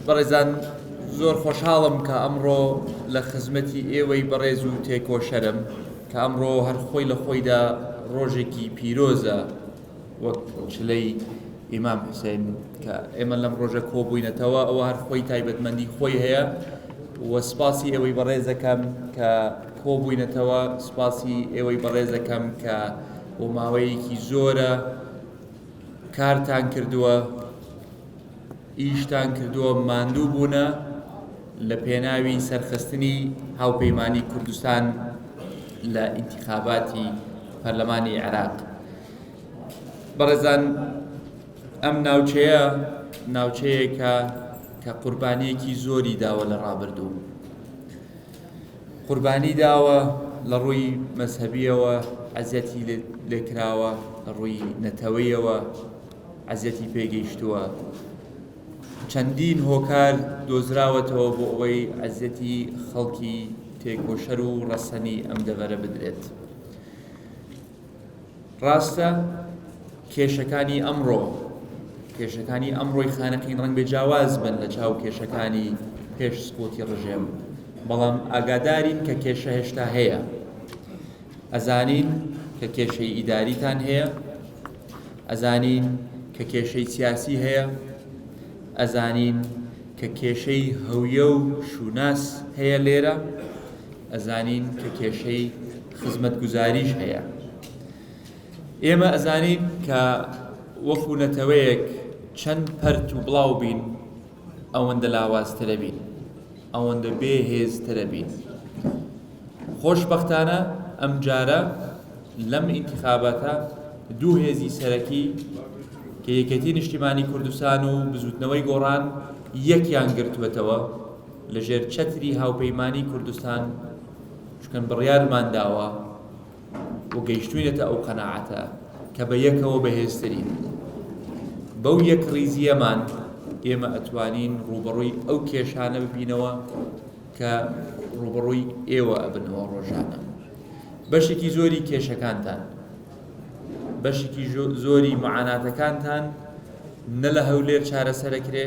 بەڕێزان زۆر خۆشحاڵم کە ئەمڕۆ لە خزمەتی ئێوەی بەڕێز و تێکۆشەرم کە ئەمڕۆ هەر خۆی لە خۆیدا ڕۆژێکی پیرۆزە وەک چلەی ئیمام حسێن کە ئێمە لەم ڕۆژە کۆبووینەتەوە ئەوە هەر خۆی تایبەتمەندی خۆی هەیە و سپاسی ئێوەی بەڕێزەکەم کە کۆبووینەتەوە سپاسی ئێوەی بەڕێزەکەم کە بۆ ماوەیەکی زۆرە کارتان کردووە ئیشتان کردووە ماندوو بوونە لە پێناوی سەرخستنی هاوپەیمانی کوردستان لە ئینتخاباتی پەرلەمانی عێراق بەڕێزان ئەم ناوچەیە ناوچەیەکە کە قوربانیەکی زۆری داوە لە ڕابردوو قوربانی داوە لە ڕووی مەذهبیەوە ئەزیەتی لێکراوە لە ڕووی نەتەوەیەوە عەزیەتی پێ گەیشتووە چەندین هۆکار دۆزراوەتەوە بۆ ئەوەی عەزیەتی خەڵکی تێکۆشەر و ڕەسەنی ئەم دەڤەرە بدرێت ڕاستە کێشەکانی ئەمڕۆ کێشەکانی ئەمڕۆی خانەقین ڕەنگ بێ جیاواز بن لە چاو کێشەکانی پێش سپۆتی ڕژێم بەڵام ئاگادارین کە کێشە هێشتا هەیە ئەزانین کە کێشەی ئیداریتان هەیە ئەزانین کە کێشەی سیاسی هەیە، ئەزانین کە کێشەی هەویە و شوناس هەیە لێرە، ئەزانین کە کێشەی خزمەتگوزاریش هەیە. ئێمە ئەزانین کە وەکو نەتەوەیەک چەند پەرت و بڵاو بین ئەوەندە لاوازترە بین، ئەوەندە بێهێزترە بین. خۆشبەختانە ئەمجارە لەم ئینتیخاباتە دوو هێزی سەرەکی کە یەکێتی نیشتیمانی کوردستان و بزوتنەوەی گۆڕان یەکیان گرتوێتەوە لە ژێر چەتری هاوپەیمانی کوردستان چکەن بڕیارمان داوە و گەیشتوینەتە ئەو قەنەعەتە کە بە یەکەوە بەهێزترین بەو یەک ڕیزیەمان ئێمە ئەتوانین ڕوبەڕووی ئەو کێشانە ببینەوە کە ڕووبەڕووی ئێوە ئەبنەوە ڕۆژانە بەشێکی زۆری کێشەکانتان بەشێکی زۆری معاناتەکانتان نە لە هەولێر چارەسەرەکرێ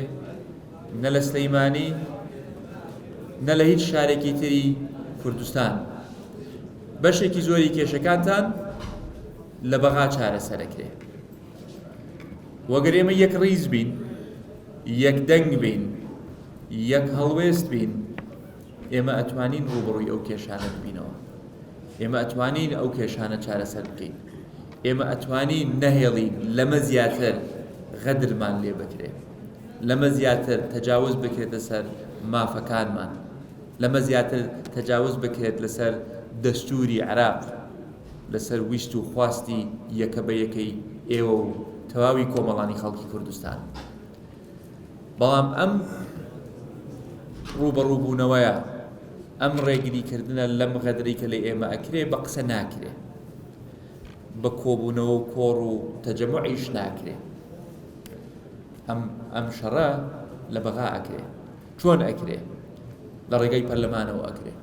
نە لە سلەیمانی نە لە هیچ شارێکی تری کوردستان بەشێکی زۆری کێشەکانتان لە بەغا چارەسەرەکرێ و گەر ئێمە یەک ڕیز بین یەک دەنگ بین یەک هەڵوێست بین ئێمە ئەتوانین ڕوبڕوی ئەو کێشانە ببینەوە ئێمە ئەتوانین ئەو کێشانە چارەسەر بکەین ئێمە ئەتوانین نەهێڵین لەمە زیاتر غەدرمان لێ بکرێت لەمە زیاتر تەجاوز بکرێتە سەر مافەکانمان لەمە زیاتر تەجاوز بکرێت لەسەر دەستوری عراق لەسەر ویست و خواستی یەکە بە یەکەی ئێوە و تەواوی کۆمەڵانی خەڵکی کوردستان بەڵام ئەم ڕووبەڕووبوونەوەیە ئەم ڕێگری کردنە لەم غەدری کە لە ئێمە ئەکرێ بە قسە ناکرێ بە کۆبوونەوە و کۆڕ و تەجەمعیش ناکرێ ئەم ئەم شەڕە لە بەغا ئەکرێ چۆن ئەکرێ لە ڕێگەی پەرلەمانەوە ئەکرێ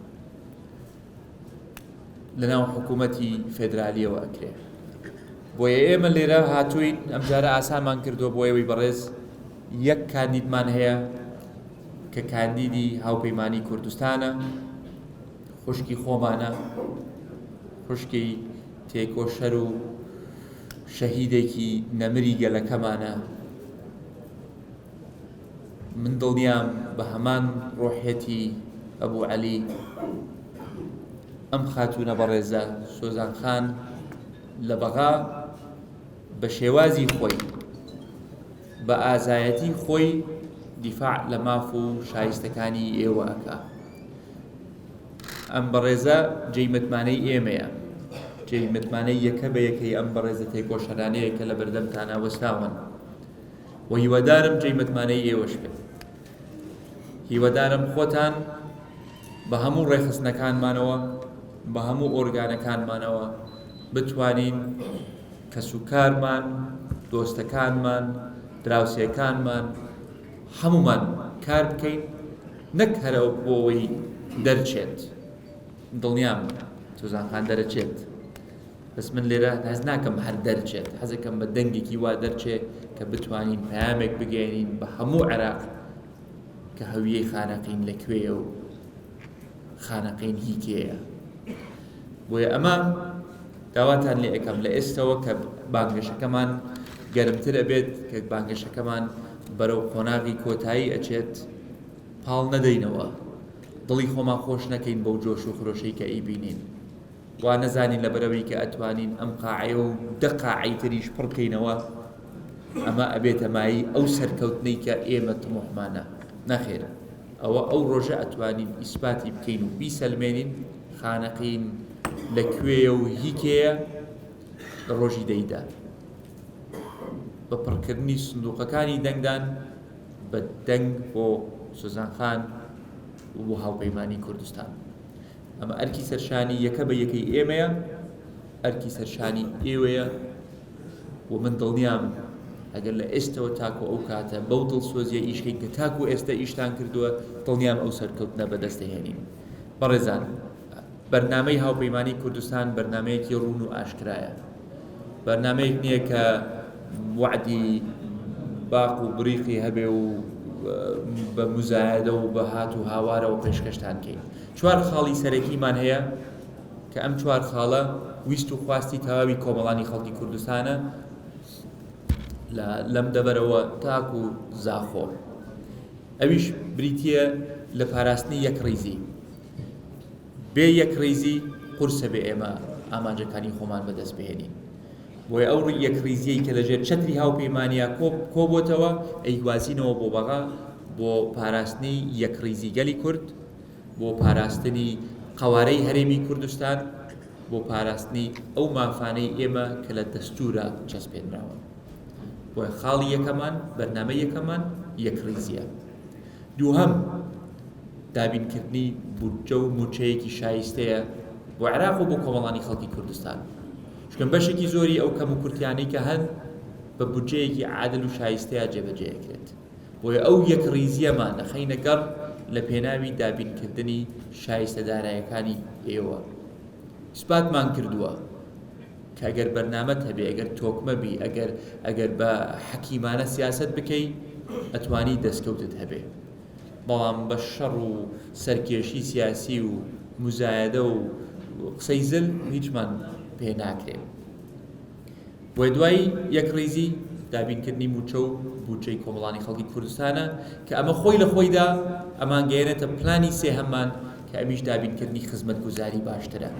لەناو حکوومەتی فێدرالیەوە ئەکرێ بۆیە ئێمە لێرە هاتووین ئەمجارە ئاسانمان کردووە بۆ ئێوەی بەڕێز یەک کاندیدمان هەیە کە کاندیدی هاوپەیمانی کوردستانە خوشکی خۆمانە خوشکی تێکۆشەر و شەهیدێکی نەمری گەلەکەمانە من دڵنیام بە هەمان ڕۆحیەتی ئەبوو عەلی ئەم خاتوونە بەڕێزە سۆزان خان لە بەغا بە شێوازی خۆی بە ئازایەتی خۆی دیفاع لە ماف و شایستەکانی ئێوە ئەکا ئەم بەڕێزە جێی متمانەی ئێمەیە جێی متمانەی یەکە بە یەکەی ئەم بەڕێزە تێکۆشەرانەیە کە لە بەردەمتانە وەسراون وە هیوادارم جێی متمانەی ئێوەش بێت هیوادارم خۆتان بە هەموو ڕێخستنەکانمانەوە بە هەموو ئۆرگانەکانمانەوە بتوانین کەس و کارمان دۆستەکانمان دراوسێکانمان هەمومان کار بکەین نەک هەرەوە بۆەوەی دەرچێت دڵنیام تۆزانخان دەرەچێت بەس من لێرە هەست ناکەم هەر دەرچێت حەزەکەم بە دەنگێکی وا دەرچێ کە بتوانین پامێک بگەێنین بە هەموو عێراق کە هەویەی خانەقین لە کوێە و خانەقین هی کێە بۆیە ئەمە داواتان لێ ئەەکەم لە ئێستەوە کە بانگەشەکەمان گەرمتر ئەبێت کە بانگەشەکەمان بەرەو قۆناغی کۆتایی ئەچێت پاڵ نەدەینەوە دڵی خۆمان خۆش نەکەین بەو جۆش و خرۆشەی کە ئەیبینین وا نەزانین لەبەرەوەی کە ئەتوانین ئەم قاعەیە و دە قاعەی تریش پڕ بکەینەوە ئەمە ئەبێتە مایی ئەو سەرکەوتنەی کە ئێمە تمۆحمانە نەخێر ئەوە ئەو ڕۆژە ئەتوانین ئیسپاتی بکەین و بیسەلمێنین خانەقین لە کوێیە و هیکەیە لە ڕۆژی دەیدا بە پڕکردنی سندوقەکانی دەنگدان بە دەنگ بۆ سوزانخان و بۆ هاوپەیمانانی کوردستان ئەمە ئەرکی سەرشانی یەکە بە یەکەی ئێمەیە ئەرکی سەرشانی ئێوەیە و من دڵنیام ئەگەر لە ئێستەوە تاکو ئەو کاتە بەو دڵسۆزیە ئیشکەین کە تاکو ئێستا ئیشتان کردووە دڵنیام ئەو سەرکەوتنە بەدەستەهێنین بەڕێزان بەرنمەی هاوپەیمانانی کوردستان بەرنمەیەکی ڕون و ئاشکرایە بەرنامەیەک نییە کە وەعدی باق و بریقی هەبێ و بە مزایەدە و بە هات و هاوارەوە پێشکەشتان کەین چوار خاڵی سەرەکیمان هەیە کە ئەم چوار خاڵە ویست و خواستی تەواوی کۆمەڵانی خەڵکی کوردستانە لەم دەبەرەوە تاک و زاخۆ ئەویش بریتە لە پاراستنی یەک ڕیزی بێ یەکڕیزی قورسە بێ ئێمە ئامانجەکانی خۆمان بەدەست بهێنین بۆیە ئەو یەکڕیزیەی کە لەژێر چەتری هاوپەیمانیا کۆبووتەوە ئەیگوازینەوە بۆ بەغا بۆ پاراستنی یەکڕیزی گەلی کورد بۆ پاراستنی قەوارەی هەرێمی کوردستان بۆ پاراستنی ئەو مافانەی ئێمە کە لە دەستورە چەسپێنراوە بۆ خاڵی یەکەمان بەرنمە یەکەمان یەکڕیزیە دووهەم، دابینکردنی بودجە و موچەیەکی شایستەیە بۆ عێراق و بۆ کۆمەڵانی خەڵکی کوردستان چونکە بەشێکی زۆری ئەو کەم و کورتیانەی کە هەن بە بودجەیەکی عادل و شایستەیە جێبەجێکرێت بۆیە ئەو یەک ریزیەمان دەخەینە گەڕ لە پێناوی دابینکردنی شایستە دارایەکانی ئێوە سپاتمان کردووە کە ئەگەر بەرنامەت هەبێ ئەگەر تۆکمە بی ئەگەر ئەگەر بە حەکیمانە سیاسەت بکەی ئەتوانی دەستکەوتت هەبێ بەڵام بە شەڕ و سەرکێشی سیاسی و مزایەدە و قسەی زل هیچمان پێ ناکرێت بۆ دوای یەکڕیزی دابینکردنی موچە و بودجەی کۆمەڵانی خەڵکی کوردستانە کە ئەمە خۆی لە خۆیدا ئەمان گەێنێتە پلانی سێهەممان کە ئەمیش دابینکردنی خزمەت گوزاری باشترە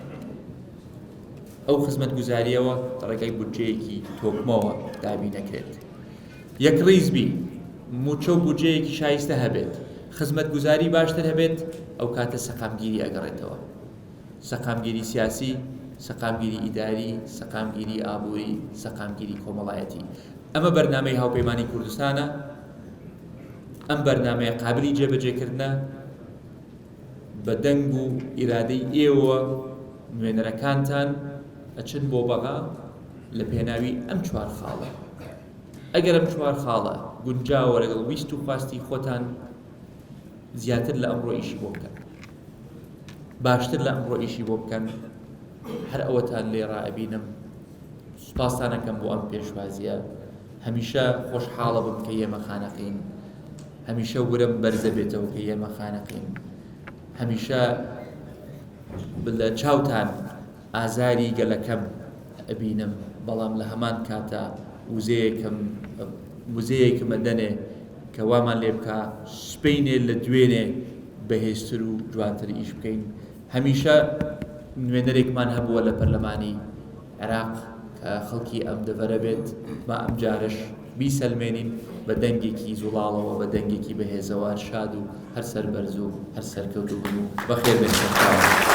ئەو خزمەتگوزاریەوە ڕێگەی بودجەیەکی تۆکمەوە دابی نەکرێت یەک ڕیز بی موچە و بودجەیەکی شایستە هەبێت خزمەتگوزاری باشتر هەبێت ئەو کاتە سەقامگیری ئەگەڕێتەوە سەقامگیری سیاسی سەقامگیری ئیداری سەقامگیری ئابووری سەقامگیری کۆمەڵایەتی ئەمە بەرنمەی هاوپەیمانانی کوردستانە ئەم بەرنمەیە قابلی جێبەجێکردە بە دەنگ و ئیرادەی ئێوە نوێنەرەکانتان ئەچن بۆ بەغا لە پێناوی ئەم چوار خاڵە ئەگەر ئەم چوار خاڵە گونجاوە لەگەڵ ویست و خواستی خۆتان زیاتر لە ئەمڕۆ ئیشی بۆ بکەن باشتر لە ئەمڕۆ ئیشی بۆ بکەن هەر ئەوەتان لێ ڕائبینم سوپاسانەکەم بۆ ئەم پێشوازیە هەمیشە خۆشحاڵە بم کە یێمە خانەقین هەمیشە ورەم بەرزە بێتەوە کە یێمە خانەقین هەمیشە لە چاوتان ئازاری گەلەکەم ئەبینم بەڵام لە هەمان کاتا وزەیەکم وزەیەکمە دەنێ کە وامان لێ بکە سپینێ لە دوێنێ بەهێزتر و جوانتر ئیش بکەین هەمیشە نوێنەرێکمان هەبووە لە پەرلەمانی عێراق خەڵکی ئەم دەڤەرە بێت، با ئەمجارەش بیسەلمێنین، بە دەنگێکی زوڵاڵەوە، بە دەنگێکی بەهێزەوە، هەر شاد و هەر سەربەرز و هەر سەرکەوتوو بن و بەخێربێن سەرکاوان.